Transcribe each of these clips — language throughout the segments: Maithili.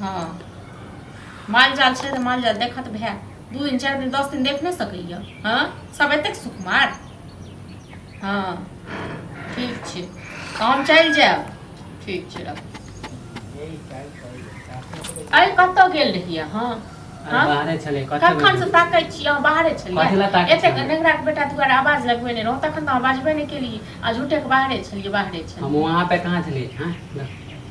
हँ माल जाल छै तऽ माल जाल देखत भए दू दिन चारि दिन दस दिन देख नहि सकैए हँ सब एतेक सुकुमार हँ ठीक छै तऽ हम चलि जायब ठीक छै रख अरे कतऽ गेल रहियै अहाँ हँ? बाहरे छलै कखन से ताकै छी अहाँ बाहरे कथी लए छलियै ताकै एतेक छलियै? नेगरा के बेटा दुआरे आवाज लगबे नहि रहौ तखन तऽ अहाँ बाजबे नहि केलियै आ झूठे के बाहरे छलियै बाहरे छलियै हम वहाँ पे कहाँ छलियै हाँ?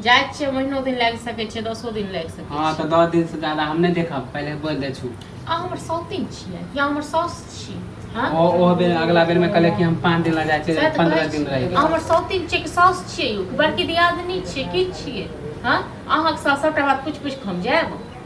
जाइ छियै महीनो दिन लागि सकै छै दसो दिन लागि सकै हँ छै तऽ दस दिन से ज्यादा हम नहि देखब पहिले बोल दे छू अहाँ हमर सौतिन छियै या हमर साउस छी हँ? ओ ओ बेर अगला बेर में कहले कि हम पाँच दिन ला जाइ सएह छियै तऽ पंद्रह कहै दिन छी। रह अहाँ हमर सौतिन छियै कि साउस छियै यौ कि बड़की दियादनी छियै की छियै हँ अहाँके साथ सभटा बात पूछि पूछि कऽ हम जायब